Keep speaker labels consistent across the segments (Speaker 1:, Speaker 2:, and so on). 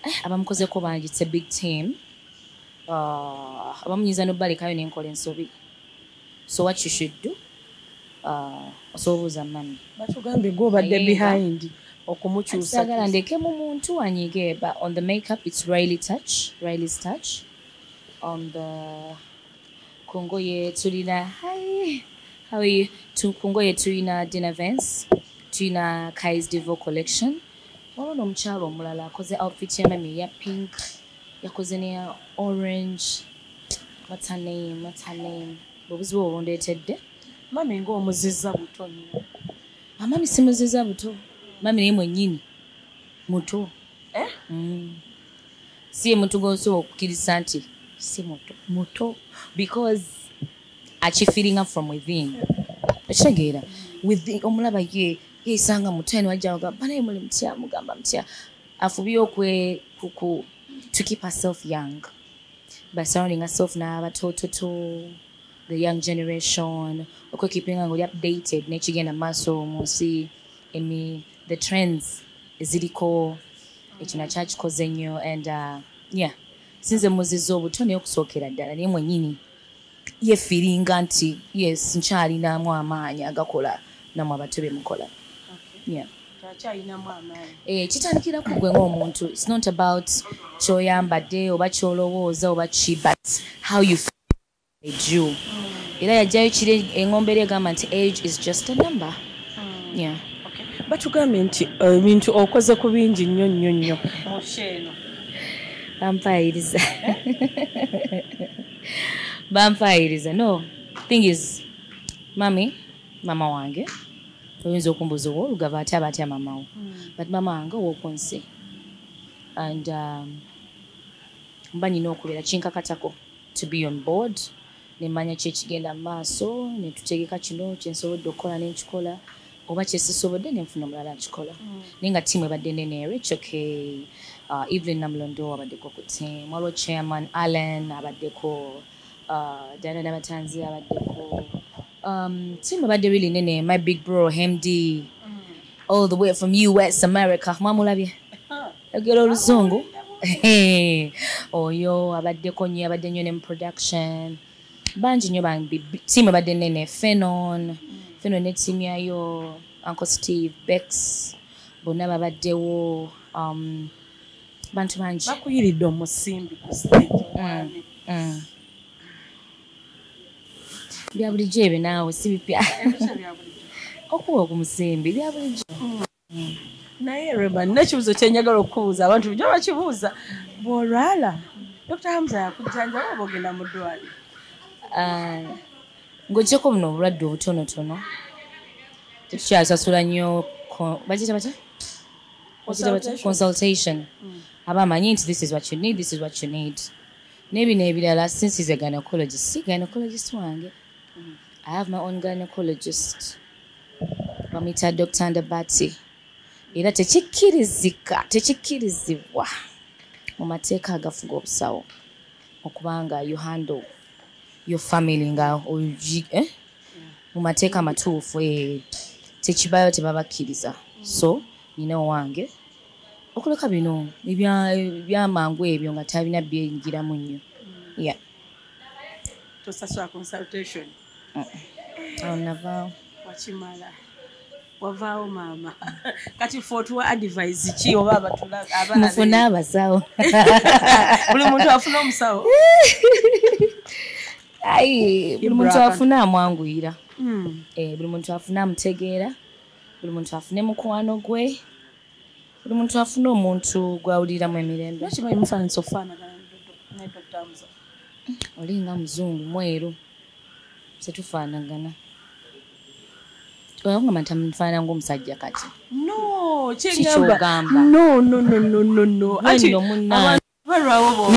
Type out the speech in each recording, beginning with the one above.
Speaker 1: eh, abamukozeko bangi it's a big team uh, abamunyiza nobalekayo nenkola ensobi so what you should do uh, osobola obuuza mami batugambye gwe obadde
Speaker 2: behind yeah. okumukyusagala ndeke mu
Speaker 1: muntu anyige but on the makeup it's riley touch riley's touch on the kungoye tulina hi how are you kungoye tulina dinner vance tulina kais divo collection waba nomukyalo omulala akoze outfit ya mami eya pink yakoze neya orange what's her name what's her name obuzibu obundetedde mami nga
Speaker 2: omuziza buto nyo amami ah,
Speaker 1: simuziza buto mami naye mwenyini muto eh? mm. si muntu gosobola okukiriza nti si muto muto because akifiringa from within okitegeera omulaba ye yesanga muteno ajaga bana muli mutya mugamba mutya afubye okwe kuku to keep herself young by surrounding herself na batototo the young generation okwe keeping ngoli updated ne kigenda maso munsi emi the trends eziliko ekyo nakyo akikoze nnyo and uh, yeah sinze muziza obuto naye okusookera ddala naye mwenyini yefiringa nti yes nkyalinamu amaanyi agakola namwe abato bemukola eh, kitandikira ku gwe ngaomuntu its not about kyoyambadde oba kyolowooza oba ki but how you ju mm. era yajjayo kiri engombe eri egamba nti age is just a number mm. yeah.
Speaker 2: batugambye nti eh, ebintu okoze ku bingi nnyo nnyo nnyo bampaayiriza
Speaker 1: bampaayiriza no thing is mami mama wange oyinza okumbuza owo olugava atya aba atya mamawo hmm. but mama wange owoku nsi and um, mba nina okubeera kinkakatako to be on board nemanya kyekigenda mu maaso netutegeka kino kyensobodde okukola nenkikola oba kyesisobodde nenfuna omulala nkikola mm. naye nga tiimu ebadde nene ero its okay uh, evelyn namulondo abaddeko ku tiimu waliwo chairman allen abaddeko uh, dana nabatanzi abaddeko um, tiimu ebadde really nene my big bro hemd mm. all the way from us america mwamulabye yogera oluzungu oyo abaddeko nyo abadde nyo ne mu production bangi nnyo bambi tiimu ebadde nene fenon fenon ne tiimu yayo uncle steve bex bonna babaddewo um, bantu bangi bakuyiridde omusimbi
Speaker 2: ku stage mm, mm.
Speaker 1: bya bulijjo ebyo naawe si bipya okuwa ogumusimbi bya bulijjo mm.
Speaker 2: naye rema nina ekibuzo kyenjagala okubuuza abantu bujo bakibuuza bwolwala dr hamza yakujjanjaba oba ogenda mu ddwali ah,
Speaker 1: ng'ogyeko buno obulwadde obutonotono tetukyasasula nnyo bakiyita batya consultation hmm. aba amanyi nti this is what you need this is what you need naye bino ebirala since is a gynecologist si gynecologist wange hmm. i have my own gynecologist bamuyita dr ndabati era tekikkirizika tekikkirizibwa mu mateeka agafuga obusawo okubanga you handle your family nga eh? mu mateeka amatuufu eh, tekibayo tebabakkiriza so nyina owange okuleka bino ebyamangu ebyo nga talina byeyingiramu nnyo ya
Speaker 2: tosasula consultation
Speaker 1: awo navaawo wakimala
Speaker 2: wavaawo maama kati fe otuwa advise ki oba abatulmufune
Speaker 1: abasawo
Speaker 2: buli muntu afuna omusawo
Speaker 1: ayi buli muntu afuna amwanguyira hmm. eh, buli muntu afuna amutegeera buli muntu afune mukwano gwe buli muntu afuna omuntu gwawuliramu emirembe kimanyi mufanisa okufaanagana
Speaker 2: ne dokita musa olinga
Speaker 1: muzungu mweru tetufaanagana oyakugamba nti amufaana ngaomusajja kati
Speaker 2: nokyogamba balwawo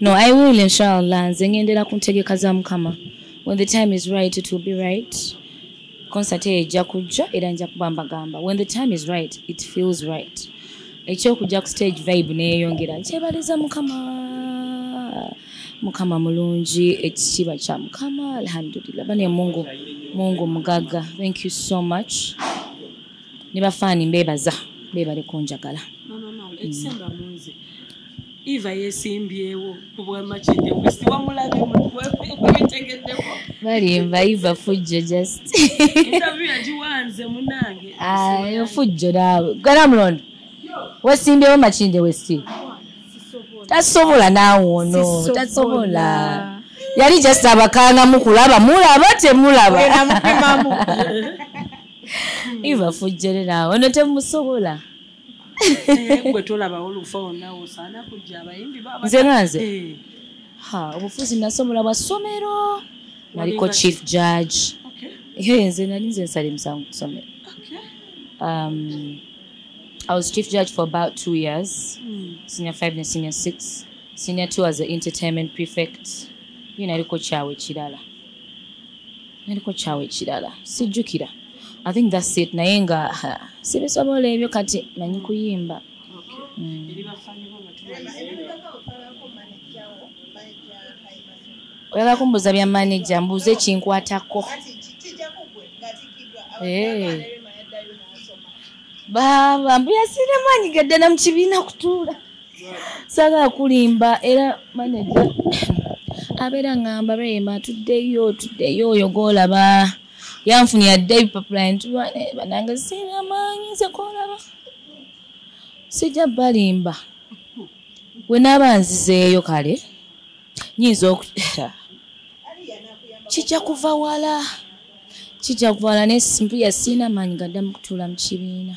Speaker 1: no i will inshallah nze ngendera ku ntegeka za mukama when the time is right it will be right concert eyo ejja kujja era nja kuba mbagamba when the time is right it feels right ekyokujja ku stage vibe neyeyongera nkyebaliza mukama mukama mulungi ekitiibwa kya mukama alhamdulillah bane mungu mungu mugaga thank you so much ne bafaani mbebaza bebali kunjagala mm.
Speaker 2: Eva yesimbyewo ku bwa Makindye West wamulabye mwetegeddeko
Speaker 1: balimba Eva fujjo just interview
Speaker 2: yagiwanze munange ayo ah, fujjo
Speaker 1: naawe gana mulondo wesimbyewo Makindye West tasobola naawe ono tasobola yali just abakanga mukulaba mulaba temulaba Eva fujjo naawe ono temusobola
Speaker 2: Eh, gwe tolabawo lufa wonna osaana kujja abayimbi nze nga nze
Speaker 1: eh. ha obufuzi nasomola bwa ssomero naliko chief judge eh, nze nali nze nsala emisango ku ssomero um, i was chief judge for about two years hmm. senior five ne senior six senior two as a entertainment prefect ye naliko kyawe kirala naliko kyawe kirala sijjukira i think thats it naye nga sibisobola ebyo kati manyi kuyimba mm. oyagala kumbuuza bya maneja mbuuza ekinkwatako baaba mbu yasiiremu anyigadde na mu kibiina kutuula sagala kulimba era manaja abeera ngamba rema tuddeyo tuddeyo oyo golaba yanfuni yadde ebipapula ntulwane eh, banange siina maanyi nze golaba sijja balimba we naaba nzizeeyo kale nyinza oku kijja kuva wala kijja kuva wala naye simpuya siina maanyi gaddamu kutuula mu kibiina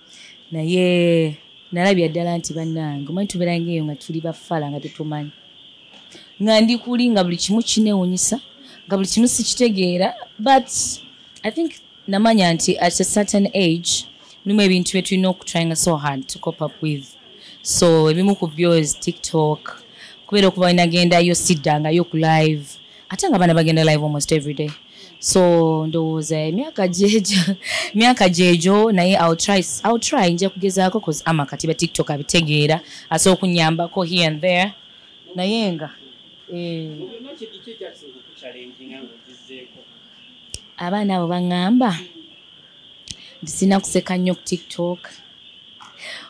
Speaker 1: naye nalabira ddala nti bannange omanyi tubeera ngaeyo nga tuli bafala nga tetumanyi nga ndi kuli nga buli kimu kinewunyisa nga buli kimu sikitegeera but i think namanya nti at a certain age mulimu ebintu bye tulina okutryinga so hard to cop up with so ebimu ku byo is tiktok kubeera okuba wenagenda yo siddangayo ku live ate nga abaana bagenda live almost every day so ndowooza emyaka gyejo myaka gyejo naye try nja kugezaako cause ama kati ba tiktok abitegeera asobola okunyambako here and there naye nga eh. abaana abo baŋŋamba nti sirina kuseka nnyo ku tiktok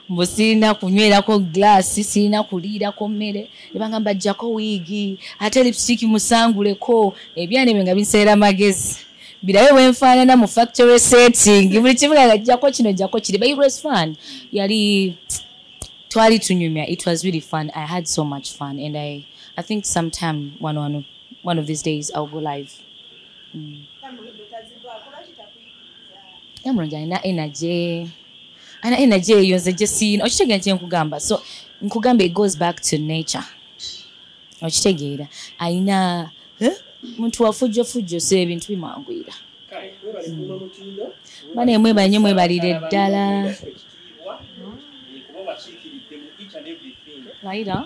Speaker 1: mbu sirina kunywerako glaasi sirina kuliirako mmere nebangamba jjako wiigi ate lipsitiki musanguleko ebyana ebyo nga binseera magezi birabe bwenfaanana mu factory setting buli kimu nga jjako kino jjako kiri but it was fun yali twali tunyumya it was really fun i had so much fun and i, I think sometime one, one, one of these days ill go live yamulungi alina energy alina energy eyo nze gyesiina okitegeera nti nkugamba so nkugamba it goes back to nature okitegeera alina eh? muntu wafujjofujjo so ebintu bimwanguyira bana emwebale nyo mwebalire ddala Later.